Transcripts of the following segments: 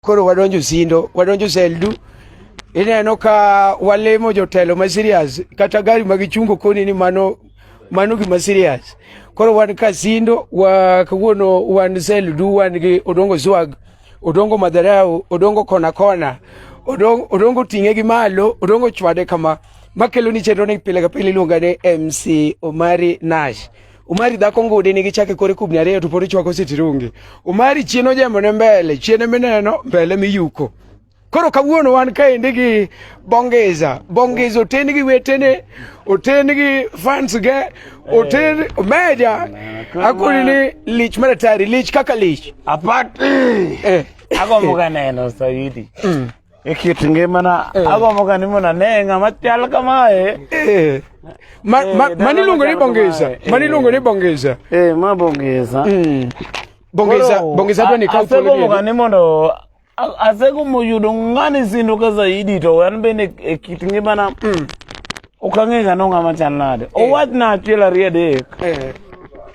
Koro wadonjo sindo, wadonjo seldu. Ineno ka walemo jotelo ma serious kata gari ma gichungo koni ni mano mano gima serious. Koro wan ka sindo wa kawuono wan seldu wan gi odongo swag, odongo madharau, odongo kona kona, odongo, odongo ting'e gi malo, odongo chwade kama makelo ni chenro ni pile ka pile iluonga ni MC Omari Nash. Umari dhako ngude nigi chake kore kubni ariyo to pod ichwako sitirungi. Umari chien ojembo ne mbele, chien mineno, mbele miyuko. Koro kawuono wan kaendi gi Bongeza. Bongeza oten gi wetene, oten gi fans ge, oten eh. meja. Akuni ni lich maratari, lich kaka lich. Apart. Eh. Agombo kaneno Saidi. Mm. e kit ngimana eh. agombo ka ni mondo ane ng'ama chal kamae eh. mani iluongo ni bongisa mani iluongo ni bongisa ma bongisa hmm. bongisa bongisa to ni ka thuolo agombo ka ni mondo asegombo yudo ng'ani sindoka zaidi to an bende e kit ngimana hmm. Ok ang'e ga no ng'ama chal nade. Owach na achiel ariyo adek Eh.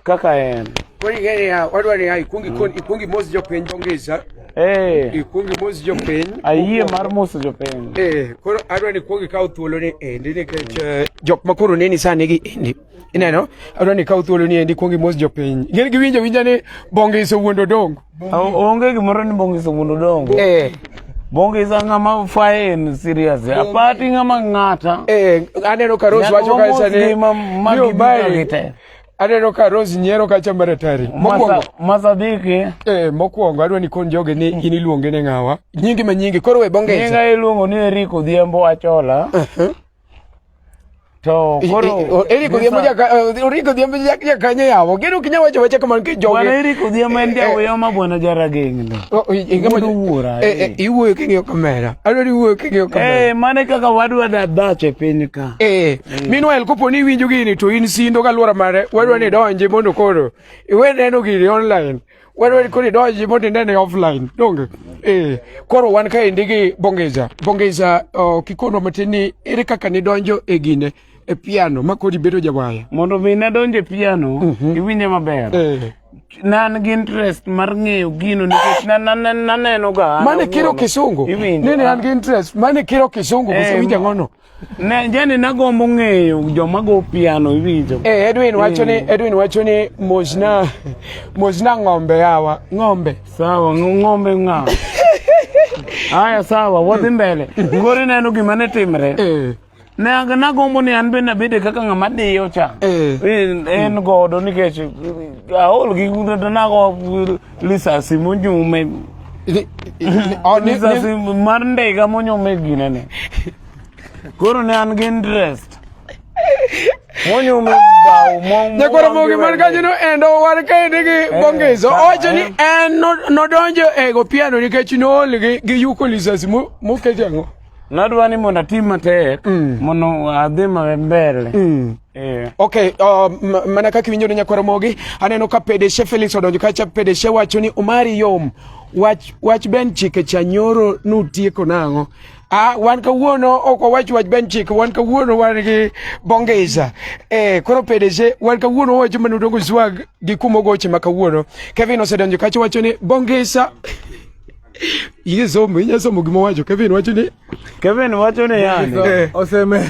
kaka en. Koro ing'eyo niya, wadwa niya, ikwong ikon- ikwong imos jopiny dhongisa, Eh, ikwong imos jopiny. ayie mar moso jopiny. Eh, koro adwa ni ikwong ikaw thuoloni endi nikech eh, jok ma koro neni sani gi endi. ineno adwa ni kaw thuolo ni endi kuong imos jopiny ing'eni giwinjo winja ni bongis owuondo dongo onge gimoro ni bongis owuondo dongo eh. bongis ang'ama faen serious eh. apati ng'ama ng'ata eh, aneno ka rose wacho kaisa ni yo bae aneno ka rose nyiero kacha maratari mokwongo masadiki eh mokwongo adwa ni kon joge ni in iluonge ne ng'awa nyingi ma nyingi koro we bongis nyinga iluongo ni eriko dhiembo achola uh -huh. To koro Eric Odhiambo ja Eric Odhiambo ja ja kanye yawo. Gero kinya wacho wacho kamar ki joge. Bwana Eric Odhiambo en ja uyo ma bwana jara gengni. Ingama duwura. Eh eh iwuoyo kingiyo kamera. Alo ni wuoyo kingiyo kamera. Eh mane kaka wadwa da dach e piny ka. Eh meanwhile kopo ni winjo gini to in sindo ka luora mare wadwa ni donje mondo koro iwe neno gini online. wan wan koro idonji mondo inene offline donge eh koro wan ka endi gi bongeza bongeza oh, kikonwa matin ni ere kaka nidonjo e gine e piano ma kodi bedo jawaya mondo mi nadonje piano Mhm. iwinje maber eh nan gi interest mar ng'eyo gino nikech na- na- na- naneno ga an mane kiro awuon. kisungu Iwinjo, nene ah. an gi interest mane kiro kisungu Eh, kose winja ngono Ne jani nagombo ng'eyo joma go piano iwinjo. Eh, Edwin wacho ni eh. Edwin wacho ni mojna mojna ng'ombe yawa ng'ombe. Sawa ng'ombe ng'a. Aya sawa wadhi mbele. Ngori neno gima ne timre. Eh. Ne nagombo ni an bende abede kaka ng'ama diyo cha. Eh. En godo nikech aol gi nago Lisa simu nyume. Ni- ni- oh, ni- Lisa ni- simu mar ndiga monyume gine ne. Koro ne an gi interest. Monyume bao mo. Ne koro mogi man kanyono endo war kaende gi bongezo ka- owacho ni eh. en no- nodonjo e gopiano nikech nool gi- gi yuko lisasi mo- moket ang'o Nadwa ni mondo atim matek mondo adhi maber. Eh. Okay, uh, mana kaka iwinjo ne nyakwaro mogi aneno ka pedeshe Felix odonjo kacha pedeshe wacho ni Omari yom wach wach ben chike cha nyoro nutieko nang'o Ah, wan kawuono ok wawach wach ben chike wan kawuono wan gi bongeza eh, koro pedeshe wan kawuono wawacho mana udongo swag gi kumo goche ma kawuono Kevin osedonjo kacha wacho ni bongeza iye somo inya somo gima wacho Kevin wacho ni Kevin wacho ni yani eh. oseme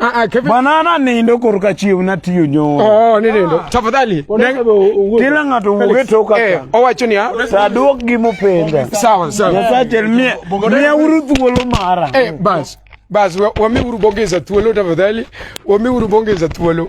Ah, ah, Kevin. Bwana na nindo koruka chiu na tiyo nyo. Oh, ni nindo. Ah. Tafadhali. Kila ng'ato wuwe toka ka. Eh, owacho ni ya. Sa duok gi mupenda. Sawa, sawa. Yasa chel mia. Mia uru thuolo mara. Eh, bas. Bas, wami uru bongeza thuolo tafadhali. Wami uru bongeza thuolo.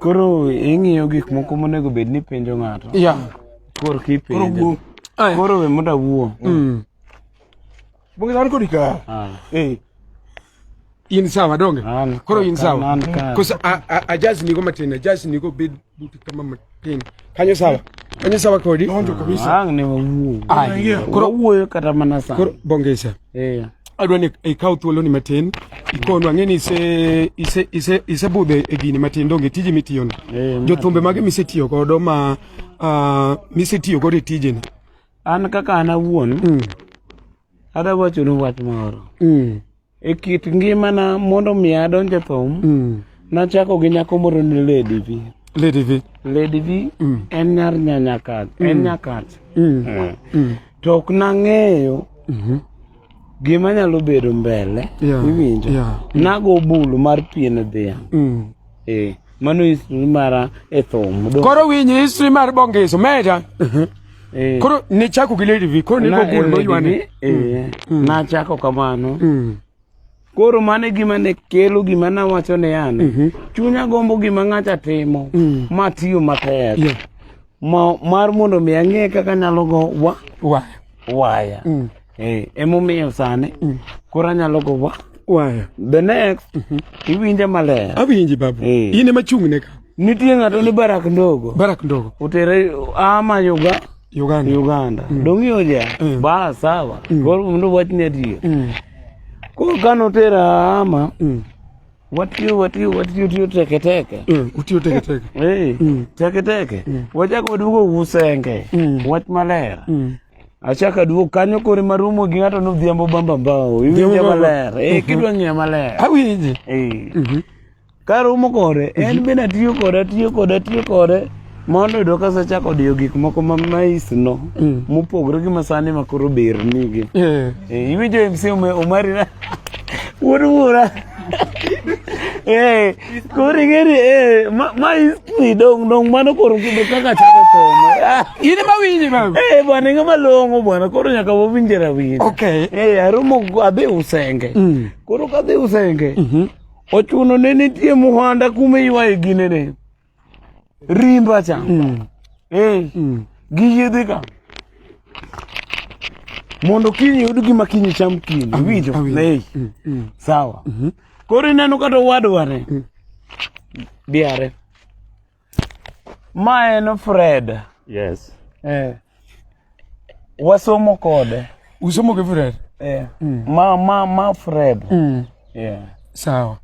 Koro ing'iyo gik moko monego bed ni penjo ng'ato. Yeah. Koro kipenjo. Koro we mondo awuo. Mm. Bungi dan kodi ka. Ah. Eh. In sawa donge. Koro in sawa. Kosa a a, a jazz ni go matin, a jazz ni go bed buti kama matin. Kanyo sawa. Kanyo sawa kodi. Donjo kabisa. Ang ne wawuo. Ai. Koro wuoyo kata mana sa. Koro bongesa. Eh. Adwa ni ikaw thuolo ni matin. Ikonu ang'e ni ise ise ise ise budhe e gini matin donge tiji mitiyo ni. Eh, Jothumbe mage misetiyo godo ma uh, misetiyo godo e tijeni? An kaka an awuon. Mm. Ada wacho ni wach moro. Mm. E kit ngimana mondo mi adonj e thum, mm. nachako gi nyako moro ni Lady V. Lady V. Lady V mm. en nyar nyanyakat, mm. en nyakat. Mm. Eh. Mm. To ok nang'eyo mm -hmm. gima nyalo bedo mbele, yeah. iwinjo. Yeah. Nago bulu mar pien dhiang'. Mm. Eh, mano history mara e thum. Koro winyi history mar bongeso meja. Mhm. Eh. Koro ne chako gi Lady V, koro ne go gol moywane. Eh. Mm. Mm. Na chako kamano. Mm. Koro mane gima ne kelo gima na wacho ne an. Mhm. Chunya gombo gima ng'acha timo. Ma tiyo matek. Ma, mar mondo mi ang'e kaka anyalo go wa, Waya. waya Mm. eh, emomiyo sani Mm. koro anyalo go wa Waya. the next iwinje maler Awinji babu. Eh. In ema chung'ne ka. nitie ng'ato ni barak ndogo Barak ndogo. utere ama yuga Uganda. uganda dong'iyo ja Mm. ba sawa koro mondo wachni adier Mm. koro kanotera ama Mm. watiyo watiyo watiyo tiyo teke teke mm, utiyo teke teke eh mm. teke teke mm. wachako duogo usenge mm. wach maler mm. achaka duogo kanyo kore marumo gi ng'ato nodhiambo bamba mbao iwinje maler eh mhm. kidwa ng'eyo maler awinje eh mm -hmm. karumo kore en mhm. bende atiyo kode atiyo kode atiyo kode Mondo yudo ka sachako diyo gik moko ma mais no mm. mopogre gi masani ma koro ber nigi. Eh. Eh, iwinjo MC Omari na wuod wuora. Eh, koro ing'eni eh, ma history dong dong mano koro kudo kaka chako somo ah. in ma winji ma eh bwana ng'ama long'o bwana koro nyaka wawinje rawinji okay eh aromo adhi usenge mm. koro kadhi usenge mm-hmm. ochuno ne nitie muhanda kuma iwaye ginene rimba cha mm. eh mm. gi yedhe ka mondo kiny yud gima kiny cham kiny mm. winjo ne mm, mm. sawa mm -hmm. koro ineno kata owadwa ne mm. diare ma en Fred yes eh Wasomo kode. Usomo gi Fred? Eh. Mm. Ma ma ma Fred. Mm. Yeah. Sawa.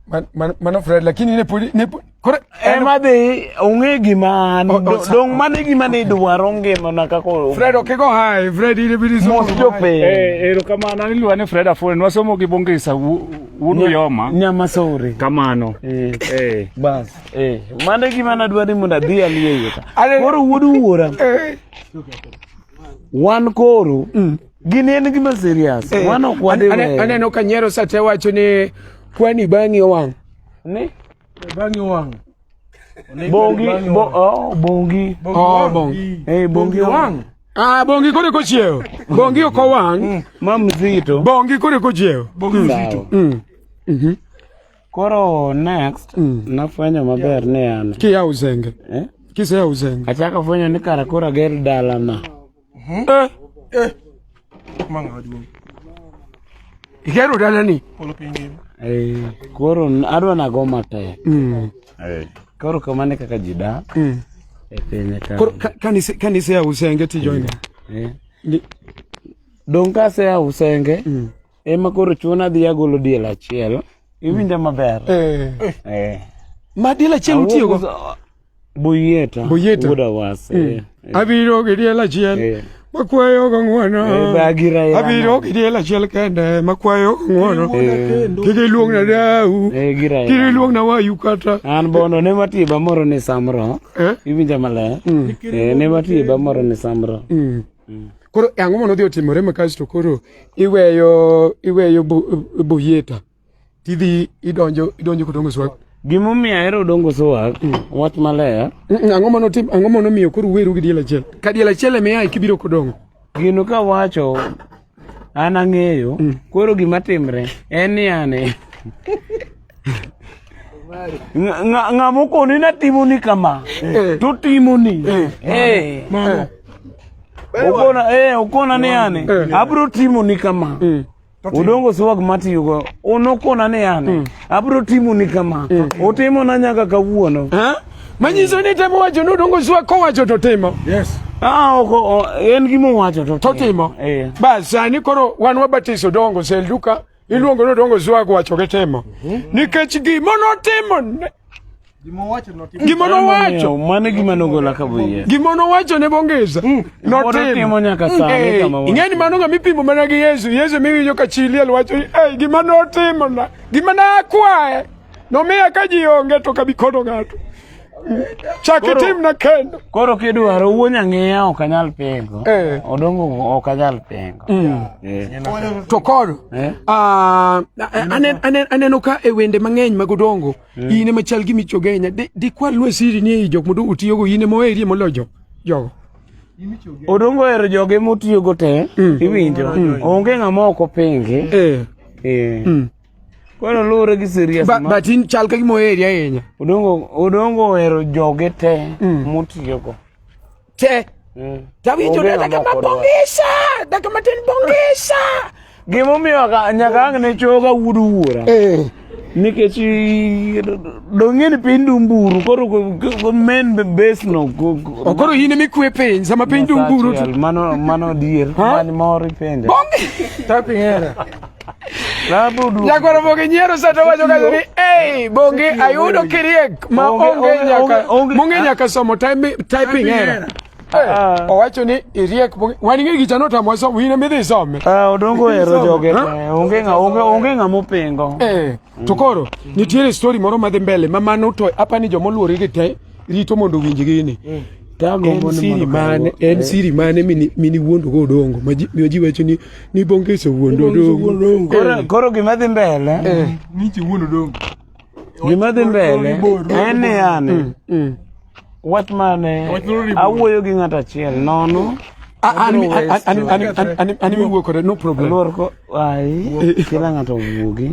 Man, man, mano Fred lakini ne podi ne kore en ma dhi ong'e gima oh, oh, dong mane gima ne idwaro ngima na kako Fred okego hai Fred ile bidi somo jo pe eh ero kama na nilwa ne Fred afone nwasomo gi bongisa wudu yoma nyama sore kamano eh eh bas Eh, mano e gima nadwa ni mondo adhi aliye iye ka. Ane- Koro wuod wuora, Eh, wan koro gini en gima serious. eh, Wan ok ane- ane- wadewe. aneno ka nyero sate wacho ni kwani bang'i owang' Ni Bang'i wang'. bongi bo oh bongi. Oh, bong. Eh bongi wang. Ah, bongi kore kochiewo bongi ok owang' Ma mzito. bongi kore kochiewo Bongi mzito. Mm. Mhm. Koro next mm. nafwenyo maber ni an kiya uzenge eh? kiseya uzenge achako fwenyo ni kara koro ager dalana hmm? eh? eh. igero dalani eh, koro adwa nago matek mm. eh. koro kamane kaka ji dak mm. e pinye kaniseya usenge tijoina eh. eh. dong kaseya usenge mm. Ema koro chuno adhi agolo diel achiel. Iwinja maber. Eh. Eh. Ma diel achiel utiyo go. Boyeta. Boyeta. Wuda wase. Mm. Eh. Abiro gi diel achiel. Eh. Makwayo go ng'wono. Eh, bagira ya. Abiro gi diel achiel kende makwayo go ng'wono. Kik iluong na dau. Eh gira. Kik iluong na wayu kata. An bono ne matiba moro ni samro. Eh. Iwinja maler. Mm. Eh ne matiba moro ni samro. Mm. Mm. Koro e ang'o mono dhi otimore ma kasto koro iweyo iweyo boyeta tidhi idonjo idonjo kodongo swag. Gimomiyo ahero dongo swag mm. wach maler. Mm, mm, ang'o mono tim ang'o mono miyo koro weru gi diel achiel. Ka diel achiel emiya kibiro kodongo. Gino ka wacho an ang'eyo mm. koro gima timre en ni ane ng'ama okoni na timoni kama eh. to timoni eh. eh. okona ni ane abro timoni kama mm. udongo swag matiyogo unokona ni ane mm. abro timoni kama utimona nyaka kawuono Manyiso ni temo wacho ni odongo swa kowacho to timo. Yes. Ah, oko en gima owacho to to timo. Eh. Bas sani koro wan wabatiso dongo sel duka iluongo ni dongo swa kowacho ke timo. Mhm. Nikech gima notimo Gima owacho notimo. Gima nowacho. Mane gima nogola ka buye. Gima nowacho ne bongeza. Mm. Notimo nyaka mm. sani eh, kama. Ingeni mano ngami pimo mana gi Yesu. Yesu miwinjo ka chili alwacho, "Eh, gima notimo na. Gima na akwaye." nomiya ka ji onge to kabi kono ng'ato chaki tim na kendo koro kidwaro wuo nyang'eya ok anyal pengo eh. odongo ok anyal pengo mm. eh. to koro eh? ah, aneno ka e wende mang'eny mag odongo mm. in ema chal gi michogenya dikwa lwe siri ni ei jok modongo tiyogo in ema oherie moloyo jogo jogo odongo ohero joge motiyogo te mm. iwinjo onge ng'ama ok openge Kwano luwore gi serious ma. But in chal ka gimo area ahinya. Odongo odongo ohero joge te mm. motiyogo. Te. Mm. Tawinjo ne daga mabongisha, daga matin bongisha. Gimo miyo ka nyaka ang ne choga wudu wuora. Eh. Nikech dong'e ni piny dumburu koro go men base no. Koro in emi kwe piny sama piny dumburu. Mano mano dier. Mani mori penja. Bongi. Tapi era. Nyakwaro Bonge nyiero sa to wacho kanyo ni ei Bonge ayudo kiriek ma onge nyaka monge nyaka somo typing era. Ah. Owacho ni iriek Bonge wan ing'e gicha notamo somo in ema idhi some. Ah odongo ero joge onge ng'a onge onge ng'a mopingo. Eh to koro nitiere story moro madhi mbele ma mano to apani jomoluorigi te rito mondo owinj gini mm. en siri mane en eh. siri mane mini wuondo go odongo ma ji wacho ni ni bongeso wuondo odongo eh. koro gima dhi mbele eh. ni ji wuondo odongo gima dhi mbele en yani mm, mm. wach mane awuoyo gi ng'at achiel nono an miwuo kode no problem lor ko ai kila ng'ato wuogi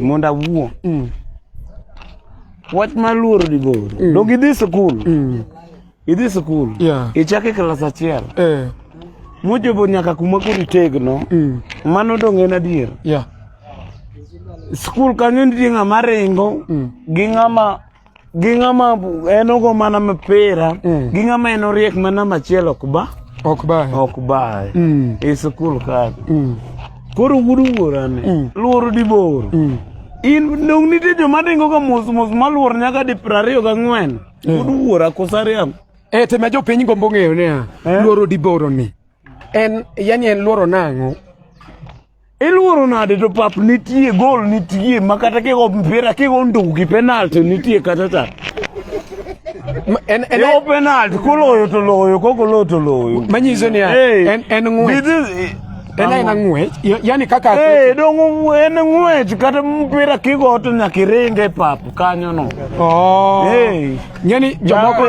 mondo awuo mm. Wach ma luoro ni goro. Mm. Dog idhi sikul. Mm. Idhi sikul. Yeah. Ichake klas achiel. Eh. Mochopo nyaka kuma koro itegno. Mm. Mano dong' en adier. Yeah. Sikul kanyo nitie ng'ama ringo mm. gi ng'ama gi ng'ama en ogo mana mipira mm. gi ng'ama en oriek mana machiel ok ba ok bae ok bae mm. e sikul kaka mm. koro wuod wuorane mm. luoro dibor mm. in dong nitie joma ringoga mos mos maluor nyaka di piero ariyo gang'wen eh. wuod wuora kosariam e eh, tema jopiny gombo ng'eyo niya eh? luoro diboro ni en yani en luoro nang'o iluoro nade to pap nitie gol nitie ma kata kigo mpira kigo ndugu gi penalty nitie kata ta yo penalty kuloyo to loyo kokoloyo to loyo manyiso ni en ng'we En aena ng'wech, yani kaka hey, dong en ng'wech kata mpira kigo to nyaka iringe e pap kanyo no. Oh. Hey. Yani jomoko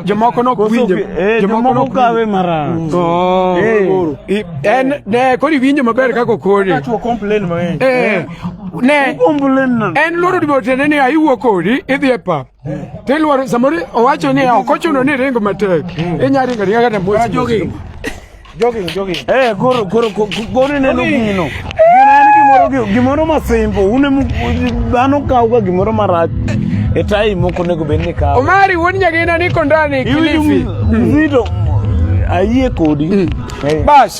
jomoko no kwinje. Eh, jomoko no kawe mara. Mm. Oh. Hey. En ne kodi winjo maber kaka kodi. Acho complain mang'eny. Eh. eh. Ne. Complain. En loro dibo tene ni ayiwo kodi idhi e pap. Tilwar samori owacho ni ok ochuno ni ringo matek. Inya ringo ringa kata mos. Jogging. Jogging, jogging. Eh, goro goro goro ne lugino. Gimoro gimoro masimbo. Une dhano kawo ga gimoro marach. E tai moko nego bed ni kawo. Omari wuon nyagina ni kondani kilifi. Mzito. Ayie kodi. Mm. Eh. Bas.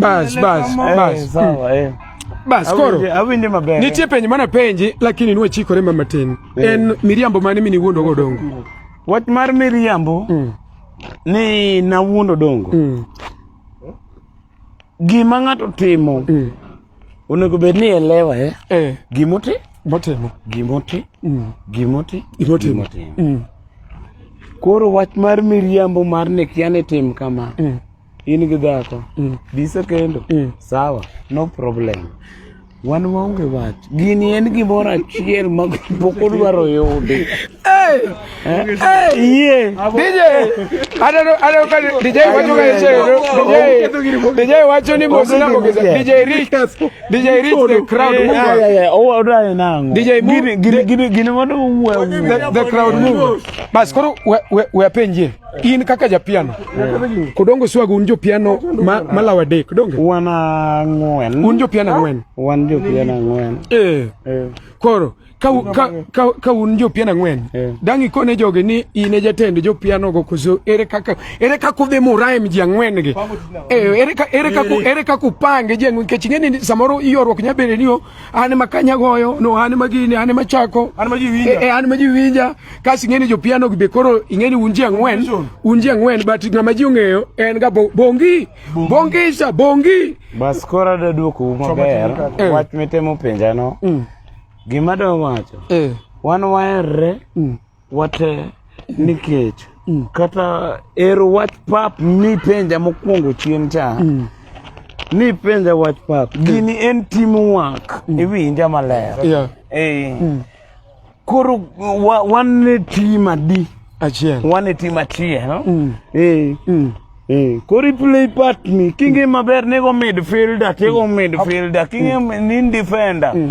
Bas, bas, eh, bas. Sawa, eh. Bas, koro. Awinde maber. Nitie penj mana penji lakini niwe chikore mama tin. Eh. En miriambo mane mini wuondo go dongo. Wach mar miriambo mm. ni na wuondo dongo. Mm. Gima ng'ato timo mm. onego bed ni elewa eh. eh. Gimoti? Motimo. Gimoti? Mm. Gimoti? Gimotimo. Mm. Koro wach mar miriambo mar ni kia ni tim kama. Mm. in gi dhako mm. bise kendo mm. sawa no problem wan waonge wach gini en gimoro achiel ma pok odwaro yudi DJ wacho ni mosina mogeza DJ Rich DJ Rich the crowd mover odayo nango DJ gini gini mondo wuwe the crowd mover bas koro we we apenjie in kaka japiano kodongo swago un jopiano ma, malaw adek donge wan ang'wen un jopiano ang'wen wan jopiano ang'wen eh. eh. koro ka, ka, ka, ka un jopiano ang'wen eh. dang' ikone jogi ni in e jatend jopiano go koso ere kaka ere kaka udhi muraem ji ang'wen gi eh, ere, ere, ere kaka upange ji ang'wen nikech ing'e ni samoro iyorruok nyabede ni an ma kanya goyo no an ma gini an ma chako an ma ji winja e, e an ma ji winja kasi ngeni jo piano be koro ingeni unji angwen unji angwen but ngama ji ongeyo en ga bongi bongi sa bongi bas kora da duoku maber eh. wach mitemo penja no mm. gima do wacho eh. wan waerre mm. Wate nikech mm. kata ero wach pap nipenja mokwongo chien cha mm. nipenja wach pap mm. gini en team work mm. iwinja maler yeah. hey. Eh. mm. koro wa, wan e team adi achiel wan e team achiel no? mm. hey. Eh. mm. Hey. Eh. koro iplay part ni kinge mm. maber nego midfielder tego mm. midfielder kinge mm. ni defender mm.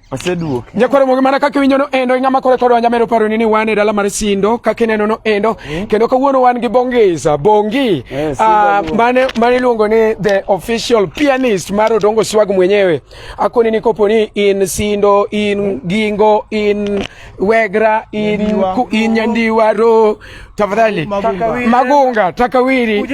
Aseduoki. Nyakwaro mogi mana kaka winjo no endo ing'ama kore kodwa nyamero paro ni ni wan e dala mar Sindo kaka ineno no endo mm. kendo kawuono wan gi Bongisa Bongi yes, uh, ah, mane mane luongo ni the official pianist mar Odongo Swag mwenyewe akoni ni kopo ni in Sindo in mm. Gingo in Wegra Inyandiwaro, tafadhali Magunga, Takawiri, uh,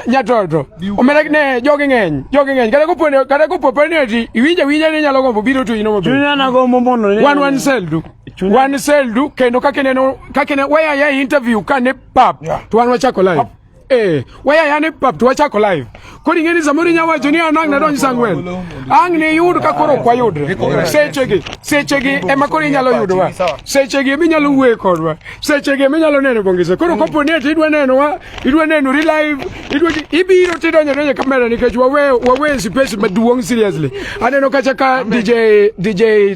Nyatoto, omera ne jogi ng'eny, jogi ng'eny. Kata kopo kata kopo penalty iwinja winja ni nyalo gombo biro to inomo. Chunya na gombo mondo ne. Wan wan seldu. Wan seldu kendo kaka neno kaka ne waya ya interview kane pap to wan wachako live. Eh, waya yani pap to chako live. Kodi ngeni zamuri nya wacho ni anang na donji sangwen. Ang ne yud ka koro kwa yudre. Sechegi, sechegi ema kori nyalo yudwa. Sechegi mi nyalo wuwe kodwa. Sechegi mi nyalo neno bongise. Koro kopo ne ti idwa neno wa, idwa neno ri live, idwa ibiro ti donjo donjo kamera nikech wawe wawe space maduong seriously. Aneno kacha ka DJ DJ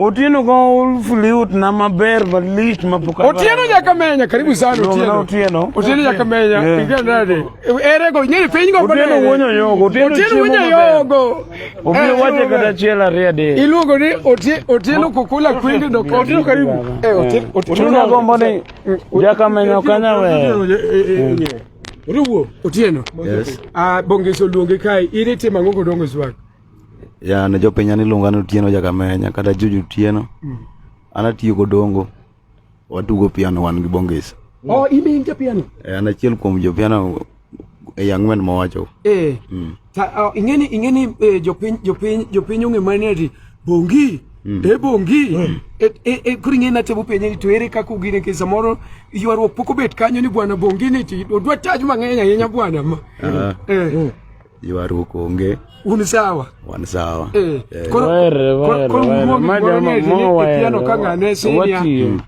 Otieno ka uliut na maber malich mapoka. Otieno nyaka menya karibu sana Otieno. Otieno. Otieno nyaka menya. Ingia ndani. Ere go nyeri piny go bana. Otieno wonyo yogo. Otieno wonyo yogo. Obiro eh, wache kata chiel ariyo de. Iluongo ni Otieno kukula kwindi do Otieno karibu. Eh Otieno. Otieno gombo ni jaka menya kanya we. Otieno. Otieno. Yes. Ah bongeso luonge kai. Iri tima ngoko dongo swag. ya ne jopinya niluonga ni Otieno Jakamenya kata Juju Otieno mm. an atiyo godongo watugo piano wan gi Bongis oh in in piano eh an achiel kuom jo piano e young man mawacho eh mm. ta oh, ingeni ingeni eh, jopiny jopiny jopiny ong'e mane ti Bongi mm. e bongi mm. e, e, e, koro ing'e natemo penye ni to ere kaka ugine ke samoro ywaruok pok obet kanyo ni bwana bongi ni ti odwa taj mang'eny ahinya bwana ma uh ah. -huh. eh. mm. Ywaruok onge. Un sawa. Wan sawa. Eh. eh. Koro koro manya mo wa. Piano ka ngane sinia.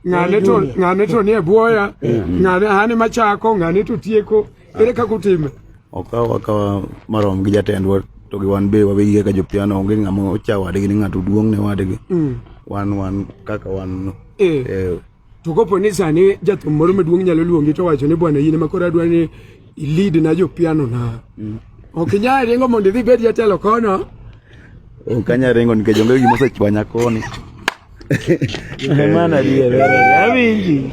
Ngane to ngane to nie boya. Eh. Ngane hani machako ngane to tieko. Ere ka kutime. Okawa wakawa marom gi jatendwa to gi wan be wabegi kaka jopiano onge ng'ama ocha wadgi ni ng'ato duong' ne wadgi. Mm. Wan wan kaka wan. Eh. eh To kopo ni sani jathum moro maduong' nyalo luongi to wacho ni bwana yine makoro adwa ni ilid na jo piano na. Mm. Ok inyal ringo mondo idhi bed jatelo kono. Ok anyal ringo nikech onge gima osechwanya koni. Mana diye vera. Awinji.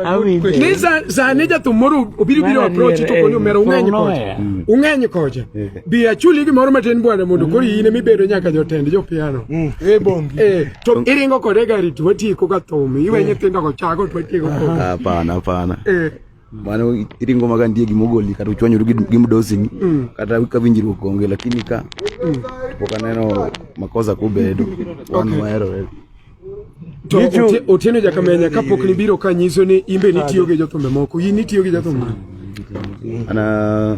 Awinji. Ni sani jathum moro obiro biro approach to koni omero ung'eny kocha. Ung'eny kocha. Bi achuli gimoro matin bwana mondo koro in ema ibedo nyaka jotend jopiano. Mm. E bongi. Eh, to iringo kode gari to watieko ka thum. Iwe eh. nyithindo go chago to watieko ko. Hapana, hapana. Eh. Mano iringo maga ndie gimogoli kata uchwanyuru gi mdosi mm. kata ka winjruok onge lakini ka mm. pok aneno makosa kubedo wan wahero to otieno jakamenya kapok nibiro ka nyiso ni imbe nitiyo gi jothumbe moko in itiyo gi jothumbe ana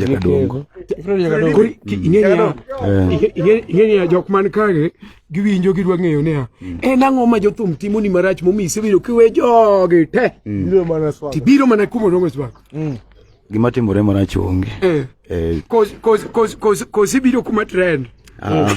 jakadongo ing'eya jok man kage giwinjo gidwa ng'eyo niya mm. en ang'o ma jothum timoni marach momi isebedo kiwe jogi te mm. tibiro mana kumo dongo swak mm. gima timore marach onge eh. eh. kosi biro kuma trend ah.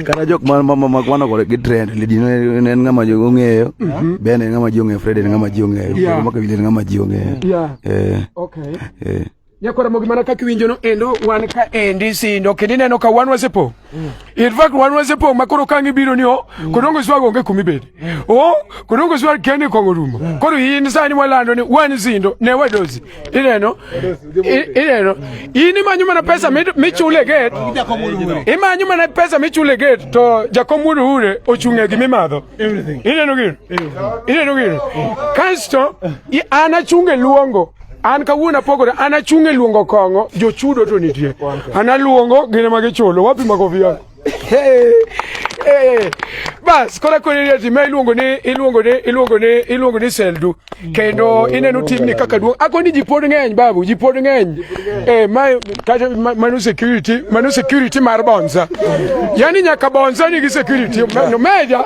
kata jok mamakwanokore gi trend lidi en ng'ama ji ong'eyo mm-hmm. ben en ng'ama ji ong'eyo fred en ng'ama ji ong'eyo makawili en ng'ama ji ong'eyo eh. Nyakora mogi mana kaka iwinjono endo wan ka endi sindo kendo ineno ka wan wasepo. Mm. In fact wan wasepo ma koro kangi biro ni o mm. kodongo swago onge kumi bede. Mm. O kodongo swa kende kongo rumo. Mm. Koro in sani walando ni wan sindo ne wadozi. Ineno. Ineno. In imanyo mana pesa michule gate. Imanyo mana pesa michule gate to jakom wudu hure ochunge gi mimadho. Ineno gino. Ineno gino. Kasto ana chunge luongo an kawuono apogore an achung' e luongo kong'o jochudo to nitie an aluongo gine ma gichulo wapi makofiya bas kora kwenye ati ma iluongo ni iluongo ni iluongo ni iluongo ni seldu kendo ineno timni kaka duong' ako ni ji pod ng'eny babu ji pod ng'eny eh ma kata manu security manu security mar bonza yani nyaka bonza ni gi security no meja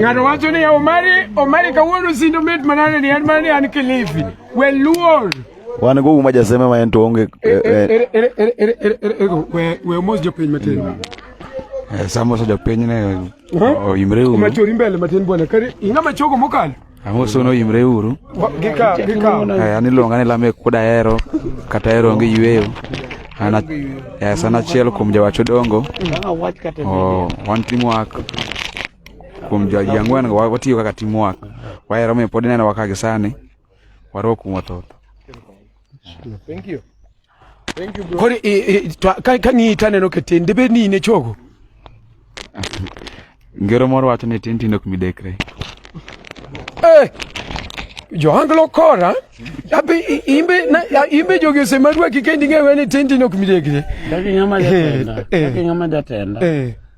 Ng'ato wacho ni Omari, Omari kawuono sindo mit manane ni en mana ni an Kilifi. We luor. Wan go uma jaseme ma en to onge. We mos jopiny matin. Samos jopiny ne oyimre ume. Machori mbele matin bwana. Kare ing'ama chogo mokalo. Ang'o sono imre uru. Eh, an iluonga ni Lamek Kuda Hero kata Hero onge yueyo. An yes, an achiel kuom jawach odongo. Oh, wan teamwork kuom jwaji ang'wen watiyo kaka teamwork. Wahero mi pod ineno waka gi sani. Warwok kuom wathoth. Thank you. kori kang'iyi to aneno ka tin debed ni in e chogo ngero moro wacho ni tin tin ok midekre eh, joanglo kora abe imbe na imbe jogi osemadwa kikendi ng'ewe ni tin tin ok midekre kaki ng'ama eh, jatenda eh. kaki ng'ama jatenda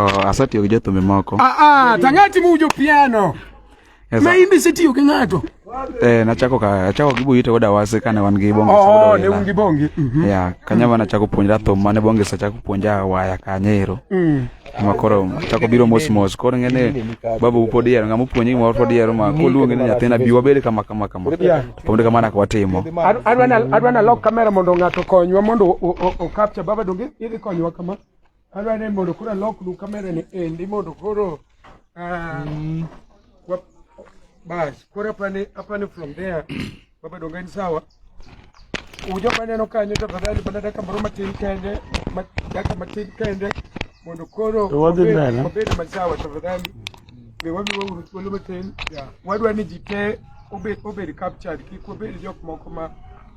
Oh, asatiyo gi jothumbe moko. Ah ah, tang'ati mujo piano. Yes, Ma imbe sitiyo gi ng'ato. Eh, nachako ka achako gi buyite koda wase kane wan gi bonge. Oh, ne un gi bonge. Mm -hmm. Yeah, kanya mana chako puonjra thum mane bonge sa chako puonja waya kanyero. Mm. Ma koro chako biro mos mos. Koro ngene babu upodi yero ngamo puonji mo pod yero ma koluonge ni nyathina biwa bele kama kama kama. Yeah. Pomde kama na kwatimo. Adwana adwana lock kamera mondo ng'ato konywa mondo o capture baba donge idhi konywa kama. Adwa ni mondo koro aloknu kamera ni endi mondo koro ah, mm. bas koro apani apani from there wabedo ngani sawa ujo maneno kanyo tafadhali mana daka moro matin kende daka matin kende mondo koro wabed masawa tafadhali be wamiwa uru thuolo matin wadwa ni ji te obed obed captured kik wabed jok moko ma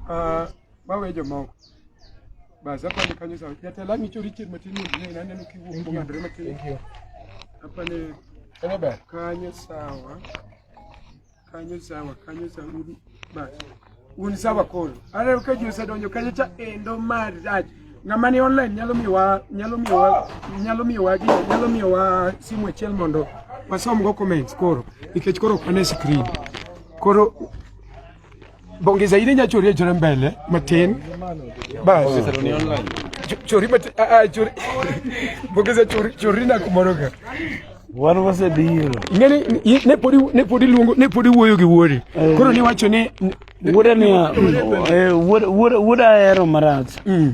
uh, mawe jomoko Basi hapa ni kanyo sawa. Jatalami cho Richard Matini ndio inaenda nikivuka kwa Andre Matini. Thank you. Hapa ni Hello ba. Kanyo sawa. Kanyo sawa, kanyo sawa. Basi. Uni sawa kolo. Ara ukaji usadonyo kanyo cha endo marriage. Ngamani online nyalo miwa nyalo miwa nyalo miwa gi nyalo miwa simu achiel mondo wasom go comments koro nikech koro ok ane screen. Koro Bonge zaidi nya chori e chore mbele matin. Bas. Chori matin a a chori. Bonge za chori chori na kumoroga. Wan wase biro. Ngeni ne podi ne podi luongo ne podi wuoyo gi wuori. Eh. Koro ni wacho ni wuoda ni eh, wuoda wuoda hero marach. Mm.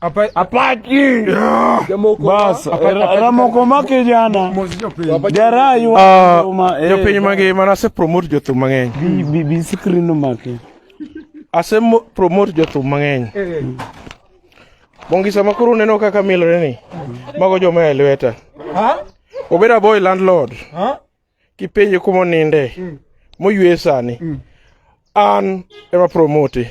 Apache. Bas, Ramoko ma kijana. Dera yu. Ah, eh, jo piny magi mana se promote jothum mang'eny. Bi bi screen no make. Ase promote jothum mang'eny. Eh. Bongisa ma koro neno kaka milore ni. Mago joma e lweta. Ha? Obeda boy landlord. Ha? kipenje kuma oninde mm. moywe sani mm. an ema promote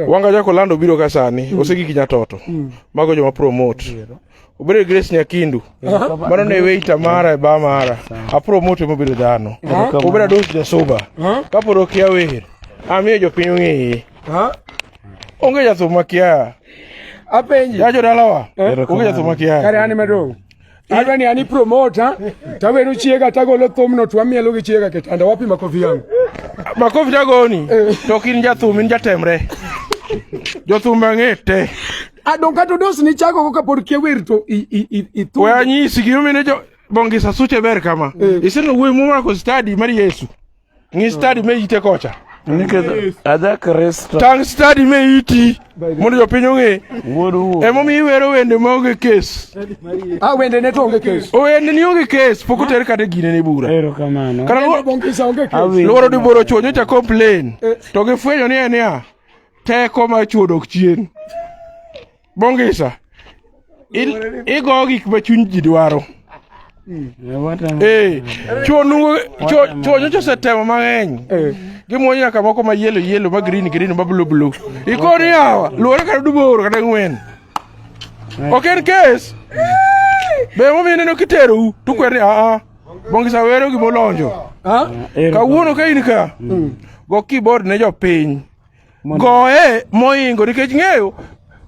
wanga jako lando biro ka sani mm. osegi kinya toto mm. mago joma promote yeah. obedo grace nyakindu mano ne weita mara e ba mara apromote mobedo dhano obedo ados jasuba kapod okia wer amiyo jopiny ong'eye onge jathum makia apenji jajo dalawa onge jathum makia kare an madong Adwa ni ani promoter tawero chiega tagolo thumno to amielo gi chiega kitanda wapi makofi yangu makofi tagoni eh. to kin jathum in jatemre jothum ang'e te adonka to dos ni chago ka pod kia wer to i i i i to wanyisi gimine jo bongisa suche ber kama eh. iseno wuoyi mumako stadi mar yesu ngi stade me ite kocha adha kristo tang stadi me iti mondo jopiny ong'e emomiyo iwero wende maonge kes ah, wende ne to onge kes wende ni onge kes pok oter kata gine ni bura lworo ni boro chuonyo cha complain eh. to gifwenyo ni en ya teko ma chuo dok chien Bongisa. Il- Igo gik ma chuny ji dwaro. Eh, chuo nungo chuo chuo nyocha osetemo mang'eny. Gimuonyo nyaka moko ma yellow yellow ma green green ma blue blue. Ikoni hawa luore kata duboro kata ng'wen. Ok en kes. Be momiyo neno kiterou to kwer ni aa. Bongisa wero gimolonjo. Kawuono ka in ka. Go keyboard ne jopiny. Goye moingo nikech ng'eyo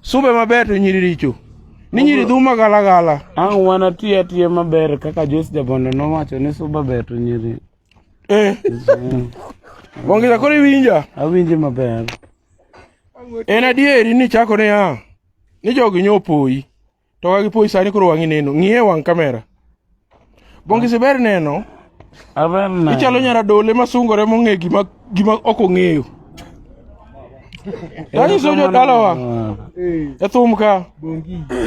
sube maber to nyiri richo. Ni nyiri dhuma gala gala. Ang' wana tiya tiya maber kaka Joyce Jabondo nowacho ni suba ber to nyiri. Eh. Wangila kore winja. Awinje maber. En adieri ni chako ne ya. Ni jogi nyopoyi. to wagi poi sani koro wang'i neno ng'iye wang' kamera bongisi ber neno ichalo nyara dole masungore mong'e gima gima ok ong'eyo tanyiso jodalawa e thum ka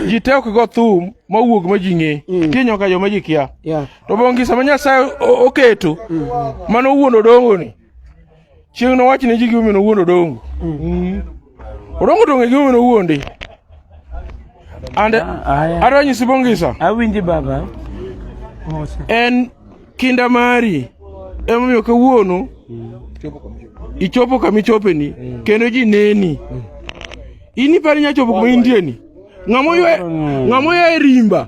ji te ok go thum mawuog ma ji ng'e mm. kinyoka joma ji kia to bongisa ma nyasaye oketo mm. mano wuon odongoni Chieng' nowach ne ji gimomiyo nowuondo Odongo. Mm. Odongo to ong'e gimomiyo nowuonde. And ah, ah, adwa nyisi Bongisa. Awinji baba. En kinda mari emomiyo kawuono mm. ichopo kama ichopeni mm. kendo ji neni. Mm. In iparo inyalo chopo kuma intieni. Ng'ama oyae rimba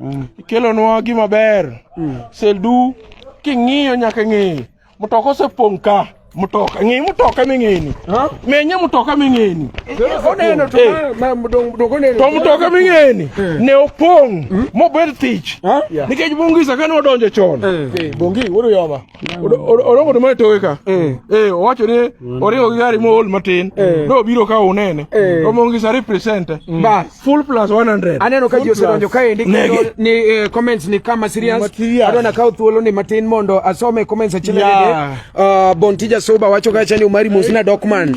mm. ikelonwa gima ber mm. seldu king'iyo nyaka ng'eye mtoka osepong' ka mtoka ng'e mtoka ming'eni menye mtoka ming'eni oneno to eh. mtoka ming'eni eh. ne opong' hmm? mobed thich nikech bongisa kane odonjo chon eh. bongi wuod yoba orongo ma toke ka eh. eh owacho ni mm. oringo gi gari mool matin eh. do biro ka unene eh. omong gi sari present mm. bas full plus 100 aneno ka jose donjo ka endi ni eh, comments ni kama serious adona ka thuolo ni matin mondo asome comments achiel yeah. uh, bontija soba wacho ka chani umari mosina dokman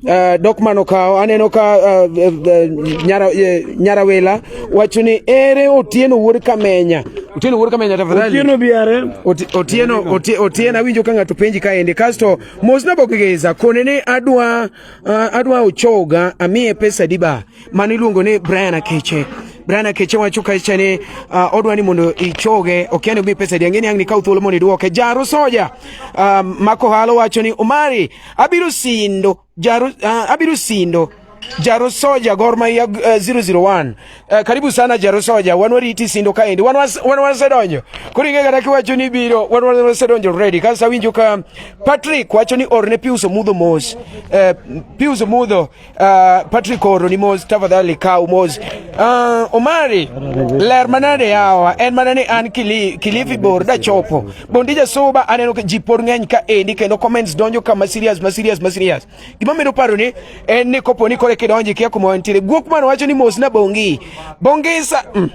Uh, dok mano kawo aneno ka uh, uh, nyara, uh, nyarawela wacho ni ere otieno wuod kamenya otieno wuod kamenya tafadhali otieno biare Oti, otieno oti, otieno awinjo ka ng'ato penji kaendi kasto mosna bokigeza kone ni adwa uh, adwa ochoga amiye pesa diba mano iluongo ni brian akeche Brian Akeche wacho kacha ni uh, odwa ni mondo ichoge okiani omi pesa di ang'eni ang' ni kaw thuolo mondo idwoke jaro soja uh, mako halo wacho ni Omari abirusindo jaru, uh, ah, abirusindo Jaro Soja Gor Mahia uh, eh, 001 uh, eh, karibu sana Jaro Soja wan wariti sindo kaendi wan wasedonjo koro ing'e kata kiwacho ni biro wan wasedonjo ready kasto awinjo ka Patrick wacho ni orne Pius Omudho mos uh, Pius Omudho Uh, Patrick Oro ni mos tafadhali kaw mos. Uh, Omari ler manade yawa en mana ni an kili, Kilifi bor da chopo bondi jasuba aneno ka ji pod ng'eny ka endi kendo comments donjo kama serious ma serious ma serious gima medo paro ni en ni kopo ni kore kidonji kia kuma wantiere guok man wacho ni mos na bongi bongi sa mm.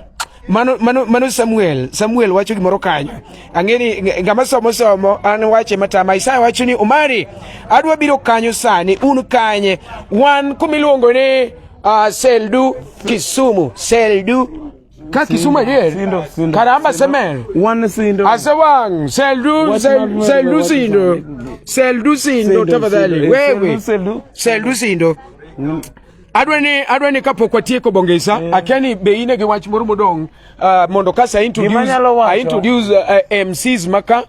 Mano, mano, mano Samuel. Samuel wacho gimoro kanyo. Ang'eni ng'ama somo somo an wache matama. Isaya wacho ni Omari adwa biro kanyo sani un kanye wan kumiluongo ni uh, Seldu Kisumu Seldu ka Kisumu adier karamba semer wan sindo asewang seldu seldu sindo seldu sindo tafadhali wewe seldu sindo adwa ni adwa ni kapok watieko bongesa mm. akia ni be ine gi wach moro modong uh, mondo kasa introduce I introduce uh, uh MCs maka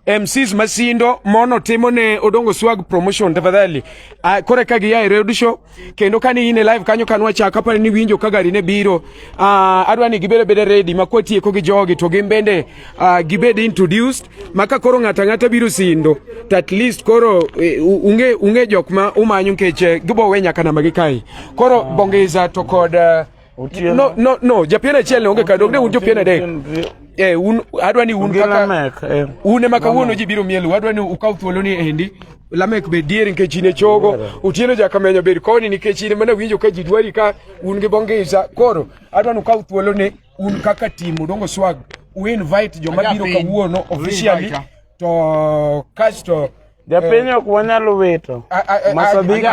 MCs masindo mono timo ne odongo swag promotion tafadhali uh, kore ka gi yae radio show kendo kani ine live kanyo kanwa cha kapa ni winjo ka gari ne biro uh, adwa ni gibere bede ready makwatieko gi jogi to gimbende uh, gibede introduced maka koro ng'ata ng'ata biro sindo to at least koro eh, unge unge jok ma umanyo nikech eh, gibo we nyaka namba gi kai koro ah. bongeza to kod eh, no no no japien achiel ne onge ka dog ne un jopien adek eh un adwa ni un kaka un ema kawuono ji biro mielu adwa ni ukaw thuolo ni endi lamek be dier nikech in e chogo otieno jakamenyo bed koni nikech in mana winjo ka ji dwari ka un gi bongeza koro adwa ni ukaw thuolo ni un kaka team Odongo Swag u invite joma biro kawuono officially to kasto Japiny eh, ok wanyalo wito. Masabiki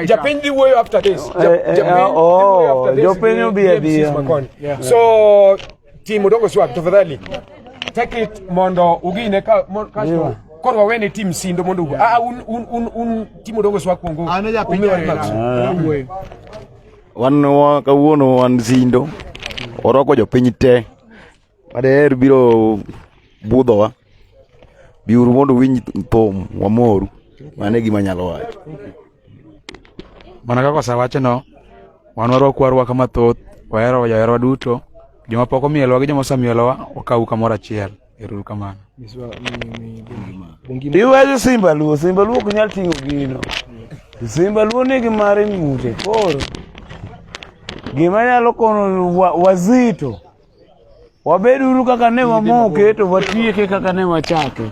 Japiny dhi wuoyo after this. Eh, eh, ah, oh, Japiny obi adiya. So team Odongo Swag tafadhali take it mondo ugine ka kasto koro wawene team sindo mondo ugo. Ah, ah un un un team Odongo Swag kuongo. An ja piny. Wan kawuono wan Zindo, orwako jopiny te madaher biro budhowa. Biuru mondo uwinj thum wamoru, mano e gima anyalo wacho. Mana kaka osewachono, wan warwaku arwaka mathoth, wahero joherwa duto, joma pok omielowa gi joma osemielowa, wakawu kamoro achiel. Iweyo Simba Luo, Simba Luo ok nyal ting'o gino. Simba Luo nigi mare ng'ute. Koro gima nyalo kono wazito wabed uru kaka ne wamoke to watieke kaka ne wachake.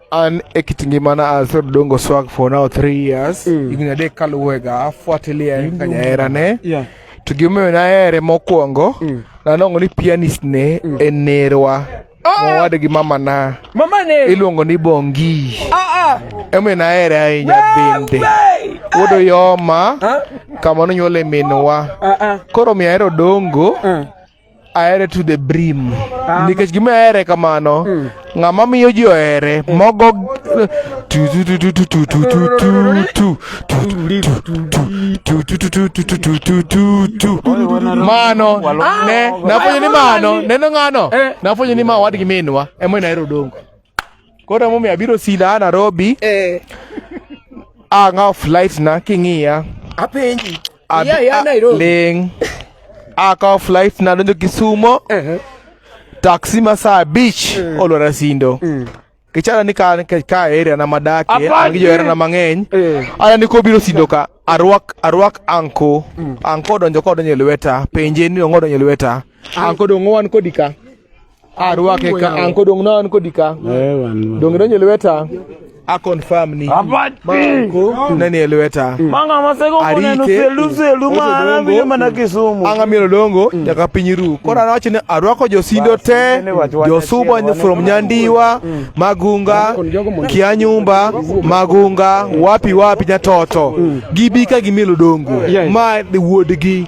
an e kit ngimana asero dongo swag for now three years mm. higni adek kaluwega afuatilia en kaka jaherane yeah. to gimomiyo nahere mokwongo mm. nanongo ni pianist ne mm. en nerwa ah! mowade gi mama na mama ne iluongo ni bongi ah, ah. emomiyo nahere ahinya bende wuod oyoma ah? kama nonyuole minwa ah, ah. koro miyo ahero dongo ah. ahere to the brim ah. nikech gima ahere kamano hmm. ng'ama miyo ji ohere mogo mano ne nafwenyo ni mano neno ng'ano nafwenyo ni ma wadgi minwa emoyo nahero dongo Koro emomiyo abiro sida a Nairobi eh. ang'awo flight na king'iya apenji iya ya Nairobi ling' akawo flight na donjo Kisumo uh -huh. taksi ma saa abich mm. Eh. olwara sindo mm. kichana ni ka, ka area na madake gi johera na mang'eny eh. ana ni kobiro sindo ka arwak arwak anko mm. anko donjo kodonjo e lweta penje ni ong'odonjo e lweta anko dong'owan kodika Arwake ka an kodong' na an kodi ka. Eh wan. Donge donje lweta. A confirm ni. Abati. Ko nani e lweta. Manga masego mona no selu selu mana bi mana Kisumu. Anga mielo dongo nyaka piny ru. Koro anawacho ni arwako josindo te, josuba ni from Nyandiwa, Magunga, Kianyumba, Magunga, wapi wapi nyatoto. Gibi ka gimielo dongo. Ma wuodgi.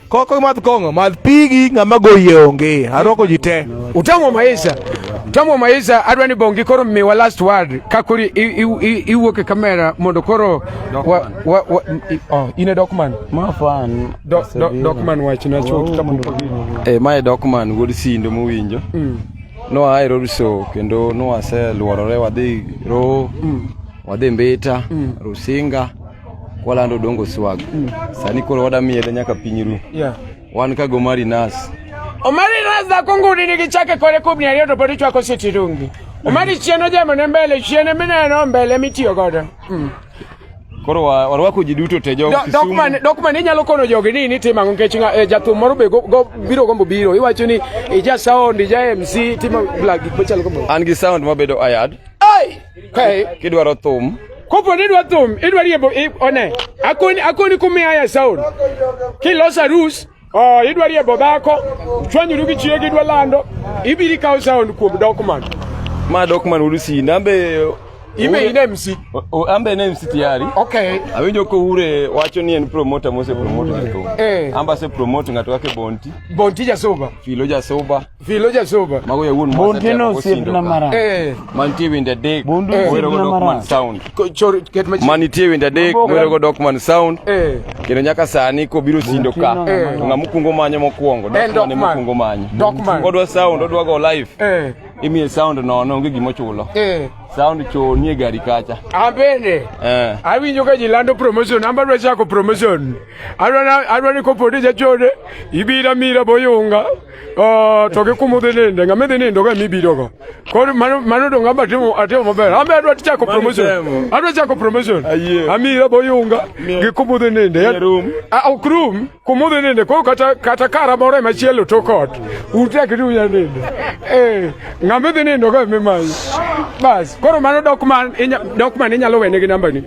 Koko imadh kong'o, madh pigi ng'ama goyie onge. Arwako ji te. Utamo maisha. Utamo maisha adwa ni bongi koro miwa last word ka koro iwuok e kamera mondo koro wa, wa, wa, i, oh, in e Dokman. Ma fan. Do, do, Dokman wach na chuo kama ndo. Eh, ma e Dokman wuod Sindo mowinjo. Mm. No ae Roriso kendo no ase luorore wadhi ro. Mm. Wadhi Mbita, mm. Rusinga. Kwalando dongo swag. Mm. Sani koro wada miele nyaka piny ru. Yeah. Wan ka gomari nas. Omari nas da kunguni ni gichake kore kubni ariyo to podi chwako siti rungi. Omari chieno jemo ne mbele chiene mineno mbele mitiyo godo. Mm. Koro warwako ji duto te jogo Kisumu. Dok man inyalo kono jogi ni ni timo ang'o nikech eh, jathum moro be biro gombo biro iwacho ni ija sound ija MC timo blag gik machalo kamano. An gi sound mabedo ayad. Ai! kidwaro thum kopo ni dwa thum idwa riembo one akoni akoni kumiya ya sound kilosa rus oh idwa riembo dhako chwanyuru gi chiyo gidwa lando ibiri kawo sound kuom document ma document wudu si nambe Ime ine MC. Ambe ine MC tayari. Okay. Awinjo ko ure wacho ni en promoter mose promoter ng'ato. Eh. Amba se promoter ng'ato kake Bonti. Bonti jasoba. Filo jasoba. Filo ja soba. Mago ya wuon mwasa tema Monteno siep kosindo na ka. mara. Eh. Mantie winda dek, Bundu Eh. mwero go Sibna Dogman Mara. sound. ko- chor- ket machi- Manitie winda dek, Maboga. mwero go Dogman sound. Eh. Kendo nyaka sani kobiro sindo ka. Monteno Eh. mara. Ng'ama okwongo manyo mokwongo, En Dogman ema Dogman. okwongo manyo. Dogman. Kodwa sound, odwa go live. Eh. Imiye sound nono, onge gima ochulo. Eh. Sound cho nie gari kacha. An bende. Eh. awinjo ka ji lando promotion an badwa chako promotion adwa ni kopo ni jachode ibira mira boyunga Oh, to gi kumo dhi ninde ng'ama dhi nindo ka mibiro go koro mano mano dong amba timo atimo maber ambe adwa chako promotion adwa chako promotion amira boyunga gi kumo dhi ninde ah, ok room kumo dhi ninde koro kata kata kara moro ema chielo to kot utek ni unya ninde eh ng'ama dhi nindo ka mimanyi bas koro mano dok man dok man inyalo wene gi namba ni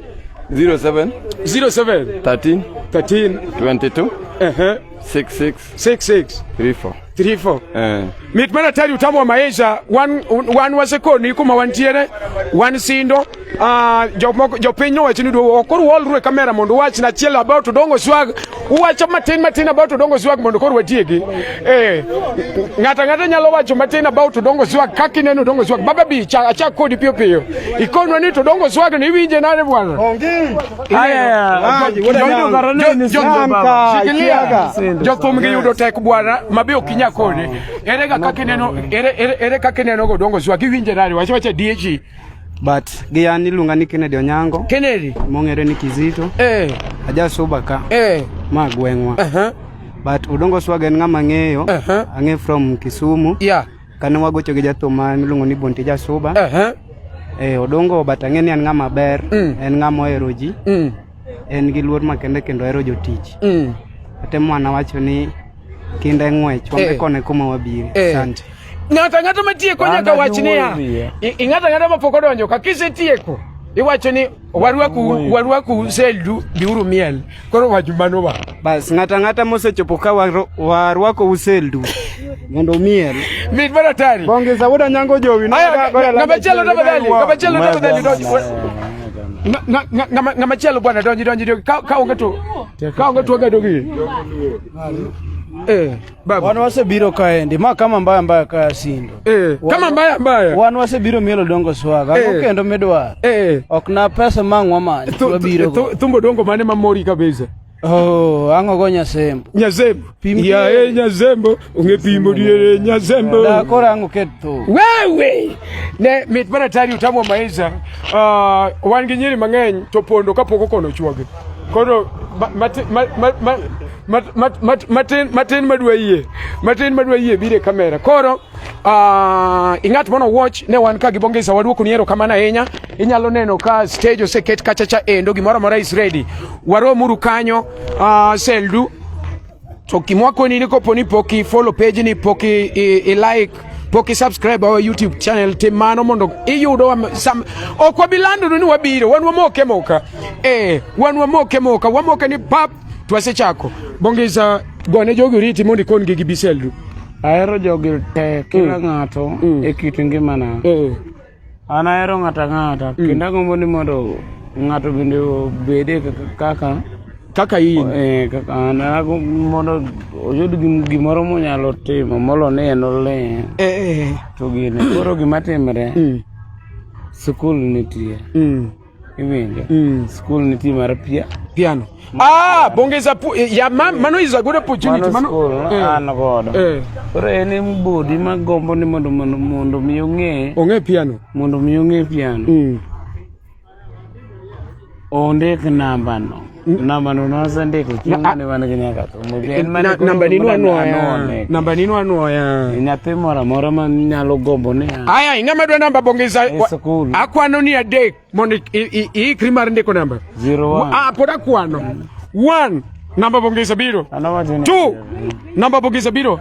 07 07 13 13 22 uh -huh. 66 66 34 34 eh mit mana tari utamu wa maisha wan wan waseko ni kuma wantiere wan sindo uh, ah, jomoko jopiny nowacho ni duogo ok koro waolru e kamera mondo uwach na achiel about odongo swag uwacho matin matin about odongo swag mondo koro watiegi eh ng'ato ang'ata nyalo wacho matin about odongo swag kaka ineno odongo swag baba bi achak kodi piyo piyo ikonwa ni to odongo swag ni iwinje nade bwana jothum giyudo tek bwana mabe ok inya kode ere kaka kineno ere kaka kineno godongo zwa giwinje nade wacha wacha diechi but giyani iluonga ni Kennedy Onyango Kennedy mong'ere ni Kizito eh ajasuba ka eh ma gweng'wa uh -huh. but Odongo Swaga en ng'ama ng'eyo uh -huh. ang'e from Kisumu yeah Kane wagocho gi jathum ma miluongo ni Bonte Jasuba. Uh -huh. Eh, Odongo but ang'e ni en ng'ama ber, mm. en ng'ama ohero ji. Mm. En gi luor makende kendo ohero jotich. Mm. Atemo ana wacho ni kinda e ng'wech, wambe eh. kone kuma wabire. Eh. Asante. Ng'ato ang'ata matieko nyaka wach niya. Ing'ato ang'ata mapok odonjo ka kisetieko iwacho ni warwaku warwaku seldu biuru miel koro wachu mano wa bas ng'ata ng'ata mosechopo ka warwako useldu mondo miel mit mana tari bonge sauda nyango jowi ngamachielo tafadhali ngamachielo tafadhali ngamachielo bwana donji donji ka onge to ka onge to onge dogi eh Babu. Wan wasebiro kaendi ma kama mbaya mbaya kaya sindo. Eh, wan, kama mbaya mbaya. Wan wasebiro mielo dongo swaga. Eh. Kendo midwaro. Eh. Ok na pesa mang'wa manyo. Wabiro. Thumbo dongo mane mamori kabisa. Oh, ango go Nyasembo. Nyasembo. Ya e Nyasembo, unge pimo diere Nyasembo. Da kora ango keto. Wewe. Ne mit mana tari utamo maiza. Ah, uh, wan gi nyiri mang'eny to pondo kapoko kono chuoge. Koro ma, ma, ma, ma, ma matin matin madwa yie matin madwa yie bire kamera koro uh, ing'at mono watch ne wan ka gi bongesa waduoko ni erokamano ahinya inyalo neno ka stage oseket kachacha endo gimoro amora is ready waromuru kanyo uh, seldu to kimwakoni ni kopo ni poki follow page ni poki i, i like pok isubscribe our youtube channel tim mano mondo iyudo ok wabilandonu ni wabiro wan wamoke moka eh wan wamoke moka wamoke ni pap Twasechako. Bongisa gone jogi oriti mondo ikon gi gibiseldu. Ahero jogi te kila mm. ng'ato mm. e kit ngimana. Mm. An ahero ng'ata ng'ata kendo agombo ni mondo ng'ato bende obede kaka kaka in eh, kaka an mondo oyud gimoro monyalo timo molo ni en olee eh, eh. to gine koro gima timre mm. sikul nitie mm. Iwinjo. Mm. School nitie mar pia. Piano. Ah, bongeza pu eh, ya ma, mano is a good opportunity. Mano, mano school eh. an godo. Eh. Koro en en bodi ma gombo ni mondo mondo mondo mi ong'e. Ong'e piano. Mondo mi ong'e piano. Mm. Ondik namba no. namba nunoza ndiko chimane wana kinyaka namba ninu anwoya namba ninu anwoya nyathi moro amora ma nyalo gombo ni aya ing'ama dwa namba bongeza akwano ni adek mondo iikri mar ndiko namba ah, pod akwano one namba bongeza biro two namba bongeza biro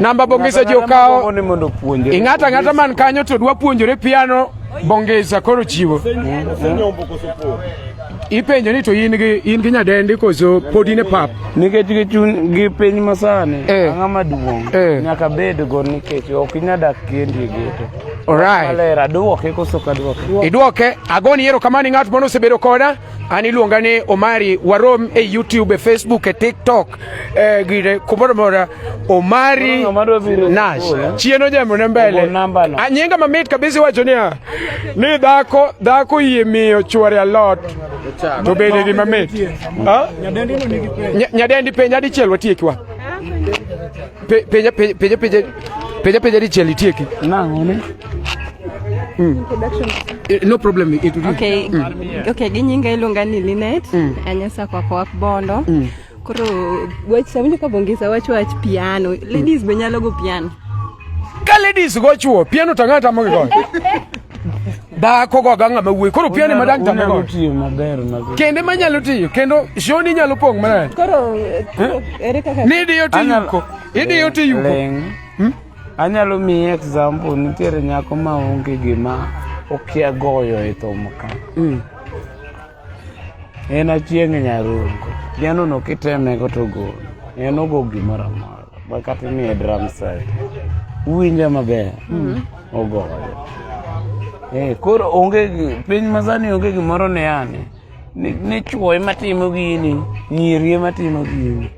namba bongesa jokao ing'ata ng'ata man kanyo to dwa puonjore piano bongesa koro chiwo ipenjo ni to in gi in gi nyadendi koso pod in e pap nikech gi chun gi piny masani eh. ang'a maduong' eh. nyaka bed go nikech ok inya dak kendi e geto Alright. Alera, duoke koso ka duoke. Iduoke, agoni yero kamani ng'at mono sebedo koda. An iluonga ni Omari warom e YouTube, e Facebook, e TikTok eh, gire kumoro mora Omari Nash chieno jambo ne mbele anyinga mamit kabisa wacho niya ni dhako dhako yie miyo chwore alot to bende gi mamit nyadendi penja dichiel watiekiwa penja penja penja penja dichiel itieki nang'o ne Mm. Eh, no problem it will okay mm. okay ginyinga iluonga ni Linet mm. anyasa kwa kwa bondo mm. koro wach samuja ka bongisa wach wach piano mm. ladies mm. be nyalo go piano ka ladies go chuo piano tanga tamo go da ko go ganga mawuoyi koro piano ma dang tamo go tiyo maber maber kende ma nyalo tiyo kendo shoni nyalo pong mana koro eh? ere kaka ni diyo tiyo ko idiyo tiyo ko Anyalo miyi example, nitiere nyako ma onge gima okia goyo e thum ka. Mm. En achieng' nyarungo. Piano no kiteme go to gol. En ogo gimoro amora. Ma kata imiye drum set. Uwinje maber. Mm. Ogoyo. Eh, koro onge gi- piny masani onge gimoro ne ane. ni chwo ema timo gini nyiri ema timo gini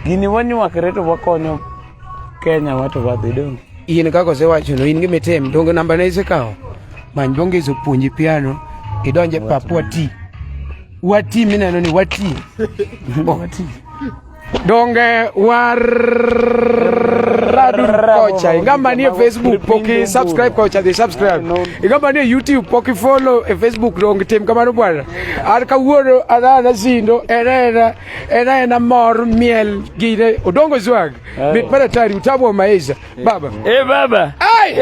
gini wanywakre to wakonyo kenya wa to wadhi dong in kaka osewachono in gima itim donge nambane isekawo many donge isopuonji piano idonje pap wati wati mineno ni wati donge waradu kocha ingamba ni e facebook poki subscribe kocha dhi subscribe ingamba ni e youtube poki follow e facebook donge tim kamano bwana an kawuono adhana sindo enena enena mor miel gine odongo zwag mit mana tari utamu wa maisha baba e baba ai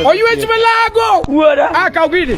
oyuech malago wuora akaw gini